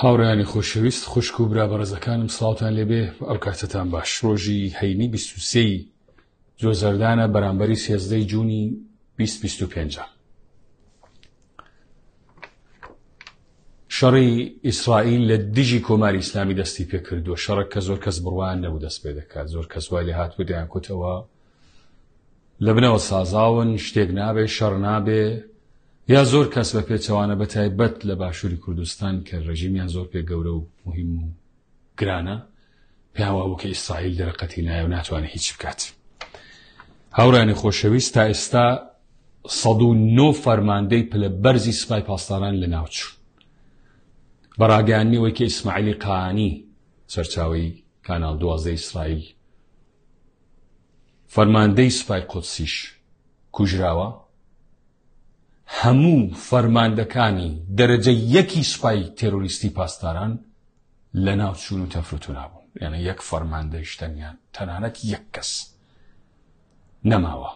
هاوڕیانی خۆشەویست خوشک و برا بەڕێزەکانم سلااوان لێبێ ئەو کاتتان باش ڕۆژی هەینی 23 جۆ زەردانە بەرامبەری سێزدەی جوونی بیست بیست و پێنجە. شەڕی ئیسرائیل لە دژی کۆماری ئیسلامی دەستی پێ کردووە شەڕک کە زۆر کەس بڕوان نەبوو دەست پێ دەکات زۆر کەس وای لە هاتوو دەیان کوتەوە لە بنەوە سازاون شتێک نابێ شەڕ نابێ یا زۆر کەس بە پێچەوانە بە تایبەت لە باشووری کوردستان کە ڕژیمیان زۆر پێ گەورە و مهم و گرانە پێیان وابوو کە ئیسرائیل دەرەقەتی نایە و ناتوانێت هیچ بکات هاورانی خۆشەویست تا ئێستا 1970 فەرماندەی پلە بەرزی سپای پاسداران لە ناوچوو بەڕاگەیاننیەوەی کە ئیسماعیلی قانی سەرچاوی کانال دوازدە ئیسرائیل فەرماندەی سپای قۆتسیش کوژراوە هەموو فەرماندەکانی دەرەجە یەکی سوپای تێرۆریستی پاسداران لەناو چوون و تەفروتونا بوون یانە یەک فەرماندەی شتەنیان تەنانەت یەک کەس نەماوە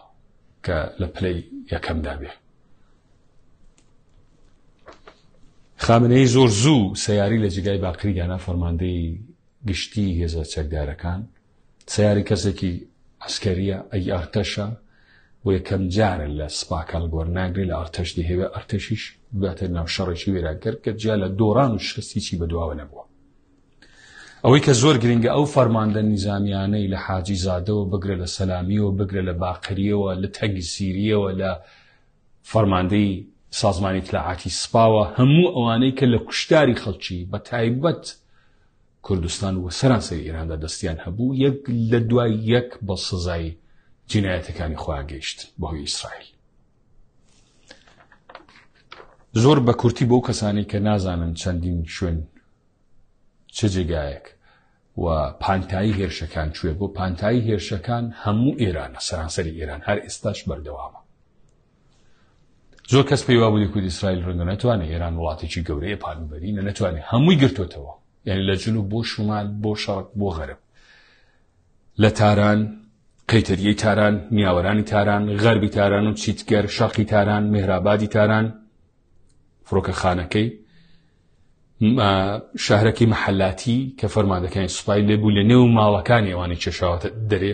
کە لە پلەی یەکەمدا بێ خامنەی زۆر زوو سیاری لە جگای باقریدانا فەرماندەی گشتی هێزە چەکدارەکان سەیاری کەسێکی عسکەریە ئەی ئەرتەشە و یەکەم جارە لە سپاکەڵ گۆر ناگرێت لە ئەرتەش دەهێوێ ئەرتەشیش باتە ناو شەڕێکی وێراگەر کە جیا لە دۆڕان و شکستیی بەدواوە نەبووە ئەوەی کە زۆر گرنگە ئەو فەرماندە نیزانیانەی لە حاجی زادەوە بگرە لە سەلامیەوە بگرە لە باقریەوە لە تەنگی سیریەوە لە فەرماندەی سازمانی تلاعاتی سپاوە هەموو ئەوانەی کە لە کوشتاری خەڵکی بە تایبەت کوردستان و سەرانسەری ئێراندا دەستیان هەبوو، یەک لە دوای یەک بە سزای جینایەتەکانی خۆیان گەیشت بەهۆی ئیسرائیل. زۆر بە کورتی بۆ کەسانی کە نازانن چەندین شوێن چ جێگایەک و پانتایی هێرشەکان کوێ بۆ پانتایی هێرشەکان هەموو ئێرانە سەرانسەری ئێران هەر ئێستاش بەردەوامە زۆر کەس پێی وابوو لێکود ئیسرائیل ڕەنگە نەتوانێت ئێران وڵاتێکی گەورەیە پانبەرینە نەتوانێت هەمووی گرتوتەوە یعنی لە جنوب بۆ شمال بۆ شەڕک بۆ غەرب لە تاران قەیتەریی تاران نیاوەرانی تاران غەربی تاران و چیتگەر شەقی تاران مهرابادی تاران فڕۆکە خانەکەی شارەکی محلاتی کە فەرمادەکانی سوپای لێبوو لە نێو ماڵەکانی ئەوانی کێشاوەتە دەرێ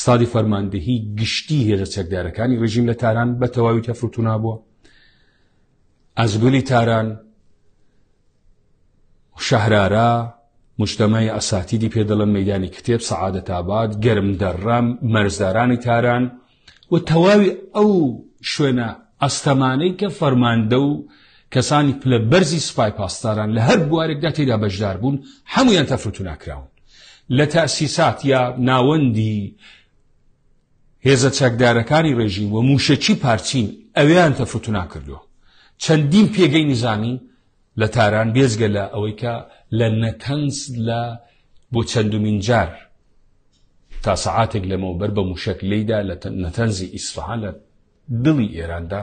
ستادی فەرماندەهی گشتی هێزە چەکدارەکانی ڕژیم لە تاران بە تەواوی تەفروتونا بووە ئەزگولی تاران شەهرارا مشتمەی ئەساتیدی پێ دەڵن مەدانی کتێب سەعادە تابات گەرم دەڕام مەرزدارانی تاران و تەواوی ئەو شوێنە ئەستەمانەی کە فەرماندە و کەسانی پلە بەرزی سپای پاسداران لە هەر بوارێکدا تێدا بەشدار بوون هەمویان تەفروتو ناکراون لە تەئسیسات یا ناوەندی هێزە چەکدارەکانی ڕێژیم و موشەکی پارچین ئەویان تەفوتنا کردووە چەندین پێگەی نزانی لە تاران بێزگە لە ئەوەی کە لە نەتەنس لە بۆ چەندمین جار تا سەعاتێک لەمەوە بەر بە موشک لیدا لە نەتەنزی ئیسفحان لە دڵی ئێراندا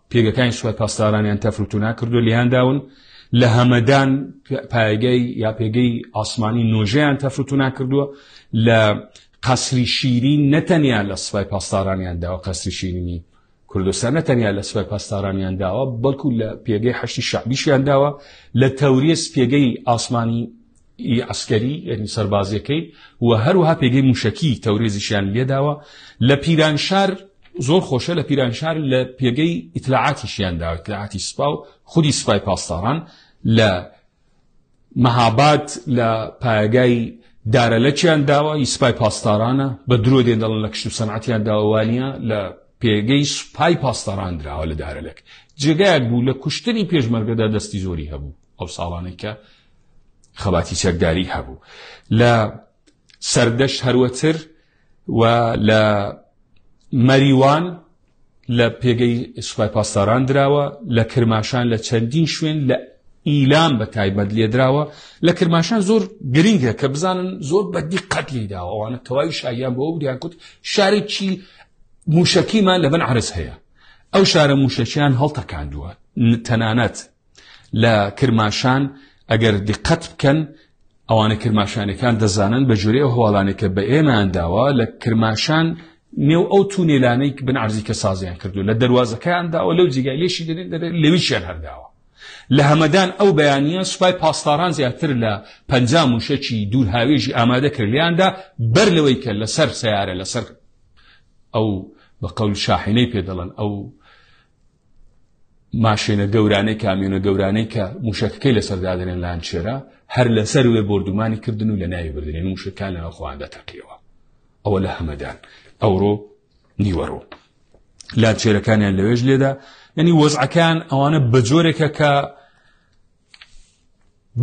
پێگەکانی سوپای پاسدارانیان تەفروتونا کردو لیان داون لە هەمەدان پایگەی یا پێگەی ئاسمانی نۆژیان تەفروتونا کردووە لە قەسری شیری نەتەنیا لە سوپای پاسدارانیان داوە قەسری شیرینی کوردستان نەتەنیا لە سوپای پاسدارانیان داوە بەڵکو لە پێگەی هەشتی شعبیشیان داوە لە تەوریس پێگەی ئاسمانی ی عەسکەری یەنی سەربازیەکەی و هەروها پێگەی موشەکی تەورێزیشیان لێداوە لە پیرانشار زۆر خۆشە لە پیرانشار لە پێگەی ئیتلاعاتیشیان داوە ئیتلاعاتی سپا و خودی سپای پاسداران لە مەهاباد لە پایگای دارەلەکیان داوە ی سپای پاسدارانە بە درۆ دێن دەڵن لە کشت و سەنعاتیان داوانە لە پێگەی سوپای پاسداران دراوە لە دارەلەک جێگایەک بوو لە کوشتنی پێشمەرگەدا دەستی زۆری هەبوو ئەو ساڵانێکە خەباتی چەکداری هەبوو لە سەردەش هەروەتر و لە مەریوان لە پێگەی سوپای پاسداران دراوە لە کرماشان لە چەندین شوێن لە ئیلام بە تایبەت لێدراوە لە کرماشان زۆر گرنگە کە بزانن زۆر بەدی قەت لیداوە ئەوانە تەواوی شایان بۆ دیان کوت شارێکی موشەکیمان لە بن عرس هەیە ئەو شارە موشەکیان هەڵتەکاندووە تەنانەت لە کرماشان ئەگەر دقەت بکەن ئەوانە کرماشانەکان دەزانن بە جورێ ئەو هەواڵانێک کە بە ئێمان داوە لە کرماشان نێو ئەو تونێلانەی بن عرزی کە سازیان کردو لە دەواازەکەیان داوە لەو جیگای لێشی دەێن دەێت لەویشیان هەرداوە لە هەمەدان ئەو بەیانە سوپای پاسداران زیاتر لە پ موشەکی دوور هاوێژی ئامادە کردیاندا بەر لەوەی کە لەسەر سیارە لەسەر ئەو بە قەول شاحینەی پێ دەڵن ئەو ماشێنە گەورانەی کامیۆنە گەورانەی کە موشەکەکەی لەسەر دادنێن لانچێرە هەر لەسەر وێ بردومانی کردن و لە ناوی بردنێن موشەکان لەناو خۆیان دەتەقیەوە ئەوە لە هەمەدان ئەوڕۆ نیوەڕۆ لانچێرەکانیان لەوێش لێدا یعنی وەزعەکان ئەوانە بەجۆرێکە کە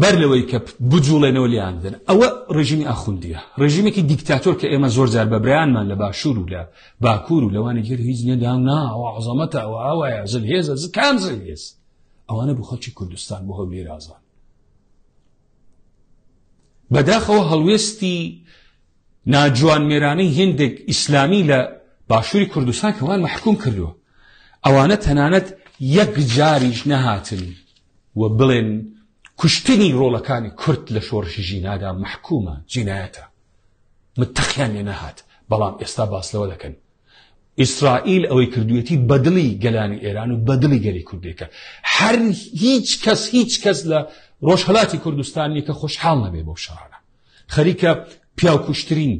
بەر لەوەی کە بجوڵێنەوە لیان بدەن ئەوە ڕژیمی ئاخوندیە ڕژیمێکی دیکتاتۆر کە ئێمە زۆر جار بە برایانمان لە باشوور و لە باکوور و لەوانی گەر هیچ نەدام ناوە عزەمەتە ئەوە ئاوایە زل هێزە ز کام زل هێز ئەوانە بۆ خەڵکی کوردستان بۆ هەولێر ئازان بەداخەوە هەڵوێستی ناجوان مێرانەی هندێک ئیسلامی لە باشووری کوردستان کەوان محکوم کردووە ئەوانە تەنانەت یەک جاریش نەهاتن و بڵێن کوشتنی ڕۆڵەکانی کورد لە شۆڕشی ژینادا مەحکومە جینایەتە متەقیان لێ نەهات بەڵام ئێستا باس لەوە دەکەن ئیسرائیل ئەوەی کردوێتی بەدڵی گەلانی ئێران و بەدڵی گەلی کوردێکە هەر هیچ کەس هیچ کەس لە ڕۆژهڵاتی کوردستانی کە خۆشحاڵ نەبێ بۆ شارە خەریکە پیاکوشترین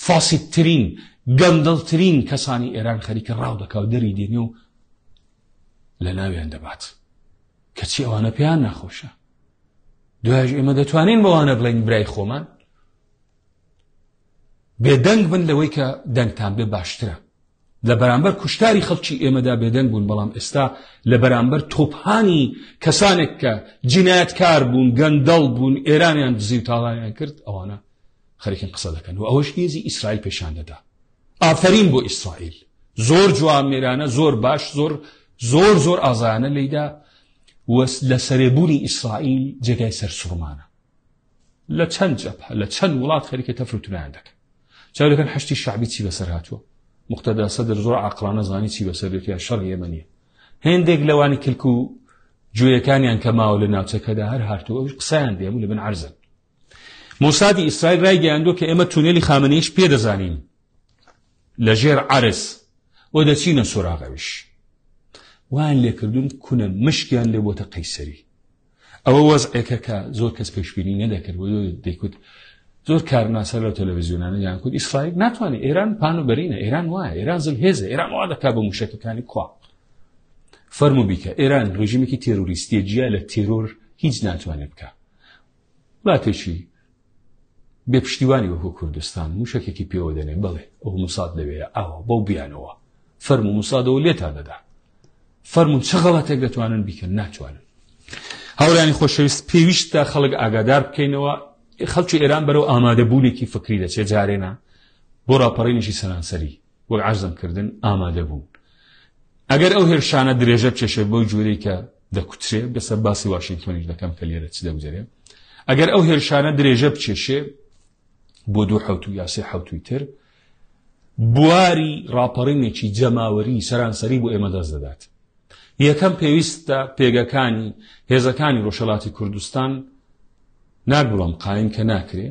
فاسیتترین گەندڵترین کەسانی ئێران خەریکە ڕاو دەکاو دەری دێنێ و لەناویان دەبات کەچی ئەوانە پێیان ناخۆشە دوایش ئێمە دەتوانین بەوانە بڵین برای خۆمان بێدەنگ بن لەوەی کە دەنگتان بێ باشترە لە بەرامبەر کوشتاری خەڵکی ئێمەدا بێدەنگ بوون بەڵام ئێستا لە بەرامبەر تۆپانی کەسانێک کە جینایەتکار بوون گەندەڵ بوون ئێرانیان دزی و تاڵایان کرد ئەوانە خەرکن قسە دەکەن و ئەوەش هێزی ئیسرائیل پێشان دەدا ئافەرین بۆ ئیسرائیل زۆر جوامێرانە زۆر باش زۆر زۆر زۆر ئازایانە لێیدا لە سەرێبوونی ئیسرائیل جێگای سەر سوڕمانە لە چەند جەپ لە چەند وڵات خەریکە تەفروتونیان دەکەن چاوەکەن هەشتی شعبی چی بەسەر هاتووە مختدا سەدر زۆر عقلانە زانی چی بەسەر دێت یا شەڕ ئێمەنیە هێندێک لەوانی کلک و گوێیەکانیان کە ماوە لە ناوچەکەدا هەر هاتووە قسەیان دێم لە بن عرزن مۆسادی ئیسرائیل رایگەیاندووە کە ئێمە تونێلی خامنەیش پێ دەزانین لە ژێر عرس و دەچینە سۆراغەویش وان لێکردون کونە مشکیان لێ بۆتە قەیسەری ئەوە وەزعێکە کە زۆر کەس پێشبینی نەدەکرد و دەیکوت زۆر کارناسە لە تەلەڤزیۆنانە یان کورد ئیسرائیل ناتوانێت ئێران پان و بەرینە ئێران وایە ئێران زل هێزە ئێران وا دەکا بە موشەکەکانی کوا فەرمو بیکە ئێران ڕژیمێکی تێرۆریستیە جیا لە تێرۆر هیچ ناتوانێت بکە وڵاتێکی بێ پشتیوانی وەکو کوردستان موشەکێکی پێوە دەنێ بڵێ ئەو موساد لەوێ ئاوە بەو بیانەوە فەرم و موسادەوە لێتان دەدا فەرمون چ غەڵەتێک دەتوانن بیکەن ناتوانن هاورانی خۆشەویست پێویستە خەڵک ئاگادار بکەینەوە خەڵکی ئێران بەرەو ئامادەبوونێکی فکری دەچێت جارێنا بۆ ڕاپەڕینێکی سەرانسەری وەک عەرزم کردن ئامادە بوون ئەگەر ئەو هێرشانە درێژە بچێشێ بەو جوورەی کە دەکوترێ بەسەر باسی واشنگتۆنیش دەکەم کە لێرە چ دەگوزەرێ ئەگەر ئەو هێرشانە درێژە بچێشێ بۆ دوو حوت و یاسی حوتوی تر بواری ڕاپەڕینێکی جەماوەری سەرانسەری بۆ ئێمە دەست دەدات یەکەم پێویستە پێگەکانی هێزەکانی ڕۆژەڵاتی کوردستان ناگوڵم قایم کە ناکرێ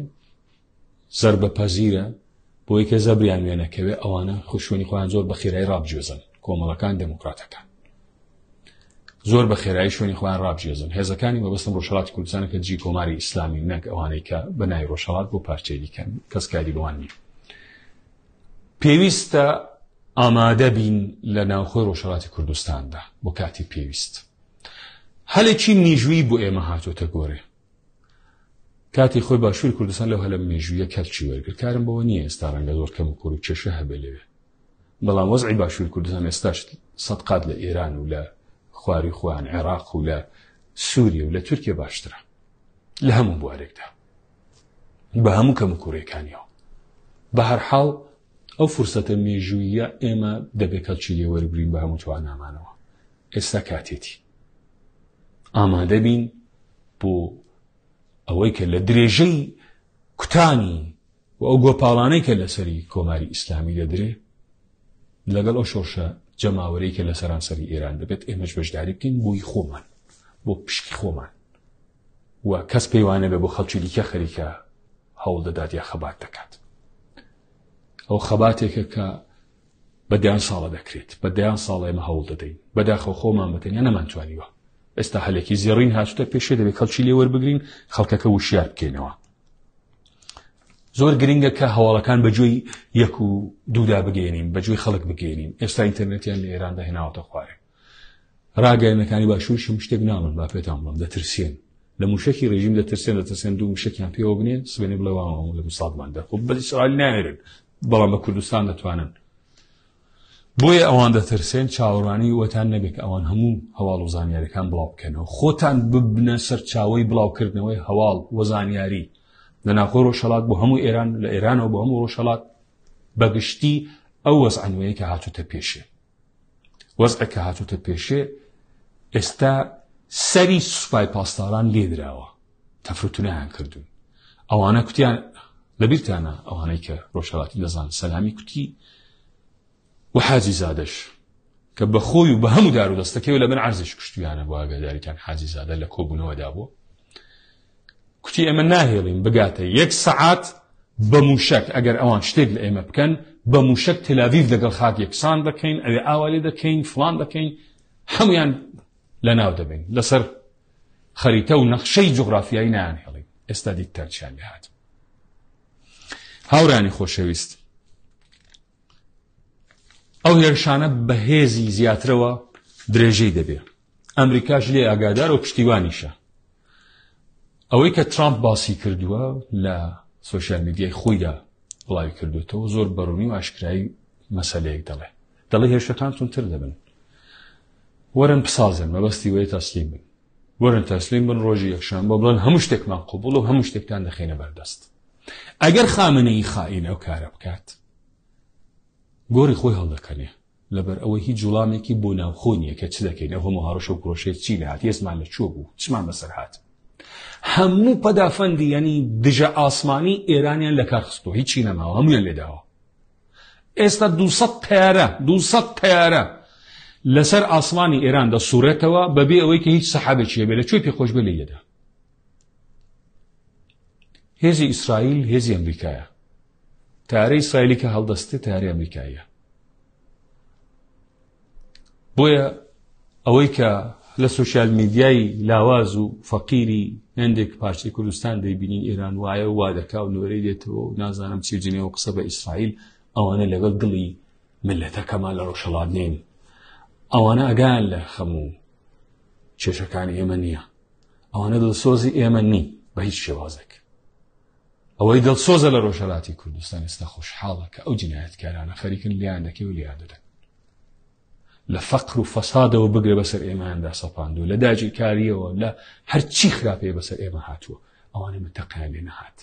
زەربە پەزیرە بۆی کە زەبریان وێ نەکەوێ ئەوانە خوشوێنی خۆیان زۆر بە خێرای ڕابجێزن کۆمەڵەکان دموکراتەکان زۆر بە خێرایی شوێنی خۆیان ڕابجێزن هێزەکانی مەبستم ڕۆژهڵاتی کوردستانە کە جی کۆماری ئیسلامی نەک ئەوانەی کە بە نای ڕۆژهڵات بۆ پارچێری کەن کەسکاری بەوان نیە پێویستە ئامادە بین لە ناوخۆی ڕۆژهڵاتی کوردستاندا بۆ کاتی پێویست هەلێکی نیژووی بۆ ئێمە هاتۆتە گۆرێ کاتی خۆی باشووری کوردستان لەو هەلە مێژوویە کەلکی وەرگر کارم بەوە نییە ئێستا ڕەنگە زۆر کەم و کۆر و کێشە هەبێ لەوێ بەڵام وەزعی باشووری کوردستان ئێستاش سەد قات لە ئێران و لە خواری خوان عێراق و لە سووریە و لە تورکیا باشترە لە هەموو بوارێکدا بە هەموو کەم و کوڕێکانیەوە بە هەرحاڵ ئەو فرسەتە مێژوویە ئێمە دەبێت کەلکی لێوەرگرین بە هەموو توانامانەوە ئێستا کاتێتی ئامادەبین بۆ ئەوەی کە لە درێژەی کوتانی و ئەو گۆپاڵانەی کە لەسەری کۆماری ئیسلامی دەدرێ لەگەڵ ئەو شۆرشە جەماوەرەی کە لە سەرانسەری ئێران دەبێت ئێمەش بەشداری بکەین بۆی خۆمان بۆ پشکی خۆمان و کەس پێیوانە بێ بۆ خەڵکی دیکە خەریکە هەوڵ دەدات یا خەبات دەکات ئەو خەباتێکە کە بە دەیان ساڵە دەکرێت بە دەیان ساڵە ئێمە هەوڵ دەدەین بەداخەوە خۆمان بەتەنیا نەمانتوانیوە ئێستا هەلێکی زێڕین هاتوتە پێشێ دەبێت خەڵکی لێ وەربگرین خەڵکەکە وشیار بکەینەوە زۆر گرنگە کە هەواڵەکان بەجۆی یەک و دوودا بگەێنین بەجۆی خەڵک بگەێنین ئێستا ئینتەرنێتیان لە ئێراندا هێناوەتە خوارێ ڕاگەیەنەکانی باشووریشم شتێک ناڵن با پێتان بڵم دەترسێن لە موشکی ڕێژیم دەترسێن دەترسێن دوو مشکیان پێوە بنێ سبێنێ بڵێ واوام لە مساڵمان دەخۆ بە ئیسرائیل ناێرن بەڵام بە کوردستان دەتوانن بۆیە ئەوان دەترسێن چاوەڕانی وەتان نەبێت ئەوان هەموو هەواڵ و زانیارەکان بڵاو بکەنەوە خۆتان ببنە سەرچاوی بڵاوکردنەوەی هەواڵ و زانیاری لە ناخۆ ڕۆژهڵات بۆ هەموو ئێران لە ئێرانەوە بۆ هەموو ڕۆژهڵات بەگشتی ئەو وەزانوەیە کە هاتوتە پێشێ وەزعێک کە هاتوتە پێشێ ئێستا سەری سوپای پاسداران لێدراوە تەفروتونیان کردوون ئەوانە کوتیان لەبیرتانە ئەوانەی کە ڕۆژهڵاتی لەزان سەلامی کوتی و حاجی زادش کە بە خۆی و بە هەموو دار و دەستەکەی لە من عرزش کوشتیانە بۆ ئاگاداریتان حاجی زادە لە کۆبوونەوەدا بوو کوتی ئێمە ناهێڵین بگاتە یەک سەعات بە موشک ئەگەر ئەوان شتێک لە ئێمە بکەن بە موشک تلاویف دەگەڵ خاک یەکسان دەکەین ئەوێ ئاوالی دەکەین فلان دەکەین هەمویان لە ناو دەبین لەسەر خەریتە و نەخشەی جغرافیایی نان هێڵین ئێستا دیکتەرچیان لەهات هاورانی خۆشەویست ئەو هێرشانە بەهێزی زیاترەوە درێژەی دەبێت ئەمریکاش لێ ئاگادار و پشتیوانیشە ئەوەی کە ترامپ باسی کردووە لە سوۆسیال میدیای خۆیدا بڵاوی کردوێتەوە زۆر بەڕوونی و ئاشکایی مەسلەیەک دەڵێ دەڵێ هێشتەکان تونتر دەبن وەرن بسازن مەبەستی وەیە تەسلیم بن وەرن تەسلیم بن ڕۆژی یەکشان بۆ بڵێن هەموو شتێکمان قوبڵ و هەموو شتێکتان دەخینە بەردەست ئەگەر خامنەی خائین ئەو کارە بکات گۆری خۆی هەڵدەکەنێ لەبەر ئەوەی هیچ وڵامێکی بۆ ناوخۆ نییە کە چ دەکەین، ئەو هەموو هەڕەشە و پرۆشەیە چی لێهات، هێزمان لە کوێ بوو، چمان بەسەر هات. هەموو پەدافەندیی دژە ئاسمانیی ئێرانیان لە کار خستووە، هیچی نەماوە، هەموویان لێ داوە. ئێستا دوو سەد تەیارە، دوو سەد تەیارە لەسەر ئاسمانی ئێران دەسووڕێتەوە بەبێ ئەوەی کە هیچ سەحابێکی هەبێ، لە کوێ پێخۆش بێ لێی دەدا. هێزی ئیسرائیل هێزی ئەمریکایە. تەیارەی ئیسرائیلی کە هەڵدەستێت تەیارەی ئەمریکاییە بۆیە ئەوەی کە لە سوسیال میدیای لاواز و فەقیری هەندێک پارچەی کوردستان دەیبینین ئێران وایە وا دەکا و نوێرەی دێتەوە و نازانم چی جنێەوە قسە بە ئیسرائیل ئەوانە لەگەڵ دڵی ملەتەکەمان لە ڕۆژهڵات نین ئەوانە ئەگان لە خەموو کێشەکانی ئێمە نییە ئەوانە دڵسۆزی ئێمە نین بە هیچ شێوازێک ئەوەی دڵسۆزە لە ڕۆژهەڵاتی کوردستان ئێستا خۆشحاڵە کە ئەو جنایەتکارانە خەریکن لیان دەکەی و لیان دەدەن لە فەقر و فەسادەوە بگرە بەسەر ئێماندا سەپاندو لە داگیرکاریەوە لە هەرچی خراپەیە بەسەر ئێمە هاتووە ئەوانە من تەقیان لێ نەهات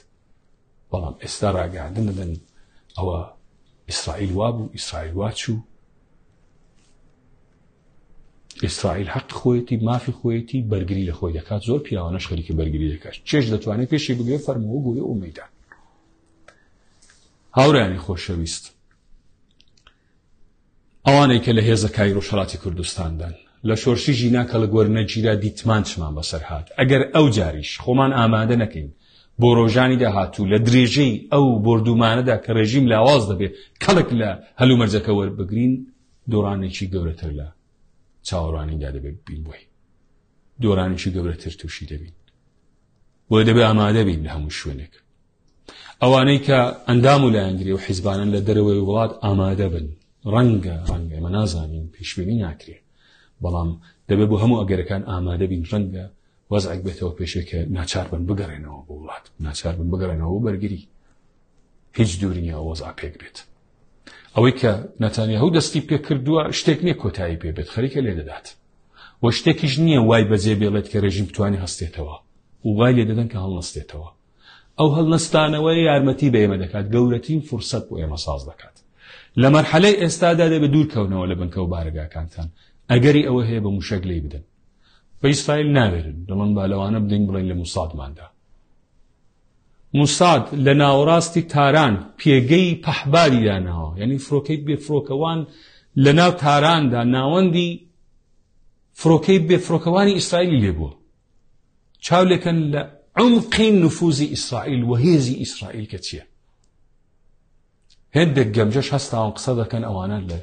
بەڵام ئێستا ڕاگەاندن دەدەن ئەوە ئیسرائیل وابوو ئیسرائیل واچوو ئیسرائیل حەقی خۆیەتی مافی خۆیەتی بەرگری لە خۆی دەکات زۆر پیاوانەش خەریکی بەرگری دەکات چێش دەتوانێت پێشی بگرێت فەرمەوە گوێ و مەدان هاورانی خۆشەویست ئەوانەی کە لە هێزە کاری ڕۆژهڵاتی کوردستاندان لە شۆرشی ژینا کە لە گۆرنەگیرا دیتمان چمان بەسەر هاات ئەگەر ئەو جاریش خۆمان ئامادە نەکەین بۆ ڕۆژانی داهاتوو لە درێژەی ئەو بردومانەدا کە ڕێژیم لاواز دەبێت کەڵک لە هەلومەرجەکە وەربگرین دۆڕانێکی گەورەتر لە چاوەڕوانیدا دەبێت بین بۆی دۆرانێکی گەورەتر تووشی دەبین بۆ دەبێ ئامادە بین لە هەموو شوێنێک ئەوانەی کە ئەندام و لایەنگری و حیزبانن لە دەرەوەی وڵات ئامادە بن ڕەنگە ڕەنگە ئەمە نازانین پێشبینی ناکرێت بەڵام دەبێت بۆ هەموو ئەگەرەکان ئامادە بین ڕەنگە وەزعک بێتەوە پێشێکە ناچار بن بگەڕێنەوە بۆ وڵات ناچار بن بگەڕێنەوە بەرگری هیچ دوورنیە وەزا پێک بێت ئەوەی کە نەتانیاهو دەستی پێکردووە شتێک نییە کۆتایی پێ بێت خەریکە لێ دەدات و شتێکیش نییە وای بەجێ بێڵێت کە رێژیم بتوانانی هەستێتەوە و وای لێ دەدەن کە هەڵنەستێتەوە ئەو هەڵنەستانەوە یارمەتی بە ئێمە دەکات گەورەترین فرسەت بۆ ئێمە ساز دەکات لە مەرحەلەی ئێستادا دەبێت دوورکەونەوە لە بنکە و بارگاکانتان ئەگەری ئەوە هەیە بە موشەک لی بدەن بە ئیسرائیل ناوێرن دەڵن بالەوانە بدەین بڵین لە موسادماندا موساد لە ناوەڕاستی تاران پێگەی پەحباری داناوە یعنی فرۆکەی بێفرۆکەوان لە ناو تاراندا ناوەندی فرۆکەی بێفرۆکەوانی ئیسرائیلی لێبووە چاو لەکەن لە عمقی نفوزی ئیسرائیل و هێزی ئیسرائیل کە چییە هێندێک گەمژەش هەستاون قسە دەکەن ئەوانە لە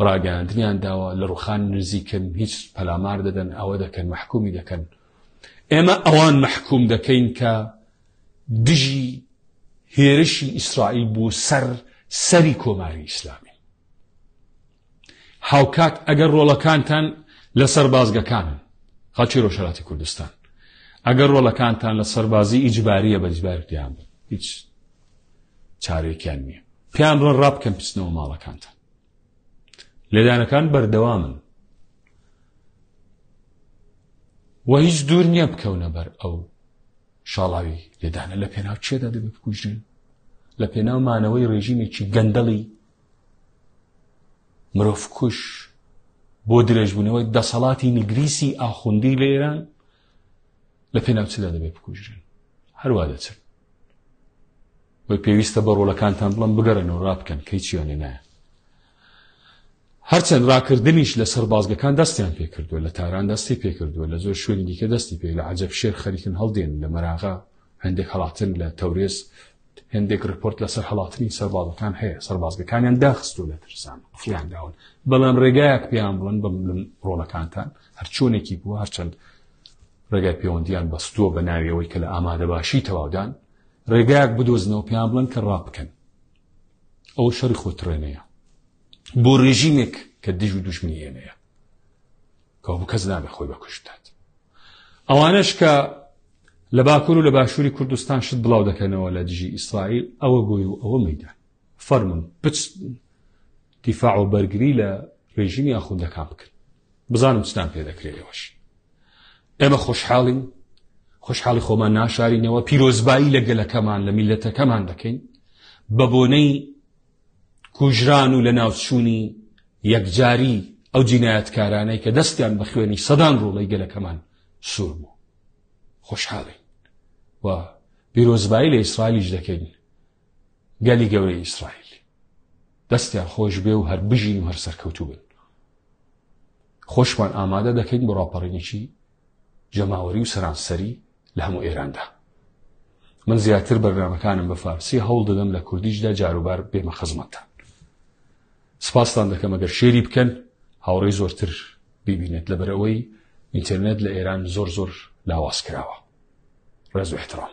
ڕاگەیاندنیان داوە لە ڕوخان نزیکن هیچ پەلامار دەدەن ئەوە دەکەن مححکومی دەکەن ئێمە ئەوان مححکوم دەکەین کە دژی هێرشی ئیسرائیل بوو سەر سەری کۆماری ئیسلامی هاوکات ئەگەر ڕۆڵەکانتان لە سەربازگەکانن خەڵکی ڕۆژهەڵاتی کوردستان ئەگەر ڕۆڵەکانتان لە سەربازی ئیجباریە بە ئیجبارتیان بن هیچ چارێکیان نییە پێیان بڵن ڕا بکەن پچنەوە ماڵەکانتان لێدانەکان بەردەوامن و هیچ دوور نییە بکەونە بەر ئەو شاڵاوی لێدانە لە پێناو چێدا دەبێت بکوژرێن لە پێناو مانەوەی ڕێژیمێکی گەندەڵی مرۆڤکوژ بۆ درێژبوونەوەی دەسەڵاتی نگریسی ئاخوندی لە ئێران لە پێناو چدا دەبێت بکوژرێن هەروە دەچن بە پێویستە بە ڕۆلەکانتان بڵم بگەڕێن و ڕابکەن کەی چیانێ نایە هەرچەند ڕاکردنیش لە سەربازگەکان دەستیان پێکردووە لە تاران دەستی پێکردووە لە زۆر شوێنی دیکە دەستی پێ لە عجب شێر خەریکن هەڵدێن لە مەراغا هەندێک هەڵاتن لە تەورێز هەندێک رپۆرت لەسەر هەڵاتنی سەربازەکان هەیە سەربازگەکانیان داخستو لە ترسان فلیان داون بەڵام ڕێگایەک پێیان بڵن بە ڕۆڵەکانتان هەرچۆنێکی بووە هەرچەند ڕێگای پەیوەندیان بەستووە بە ناویەوەی کە لە ئامادە باشی تەواودان ڕێگایەک بدۆزنەوە پێیان بڵن کە ڕابکەن ئەو شەری خۆترێنەیە بۆ ڕێژیمێک کە دژ و دژمنی ئێمەیە کەوابوو کەس نابێ خۆی بەکوشت دات ئەوانش کە لە باکوور و لە باشووری کوردستان شت بڵاو دەکەنەوە لە دژی ئیسرائیل ئەوە گوی و ئەوە مەدان فەرمون بچ دیفاع و بەرگری لە ڕێژیمی ئاخوندەکان بکرد بزانم چتان پێ دەکرێت ئێوەش ئێمە خۆشحاڵین خۆشحاڵی خۆمان ناشارینەوە پیرۆزبایی لە گەلەکەمان لە میلەتەکەمان دەکەین بە بۆنەی کوژران و لەناوچوونی یەکجاری ئەو جینایەتکارانەی کە دەستیان بە خوێنی سەدان ڕۆڵەی گەلەکەمان سوور بوو خۆشحاڵین و بیرۆزبایی لە ئیسرائیلیش دەکەین گەلی گەورەی ئیسرائیل دەستیان خۆش بێ و هەر بژین و هەر سەرکەوتوو بن خۆشمان ئامادە دەکەین بۆ ڕاپەڕینێکی جەماوەری و سەرانسەری لە هەموو ئێراندا من زیاتر بەرنامەکانم بە فارسی هەوڵ دەدەم لە کوردیشدا جاروبار بێمە خزمەتتان سپاستان دەکەم ئەگەر شێری بکەن هاوڕێی زۆرتر ببینێت لەبەرەوەی ئینتەرنێت لە ئێران زۆر زۆر لاواز کراوە ڕێز و احترام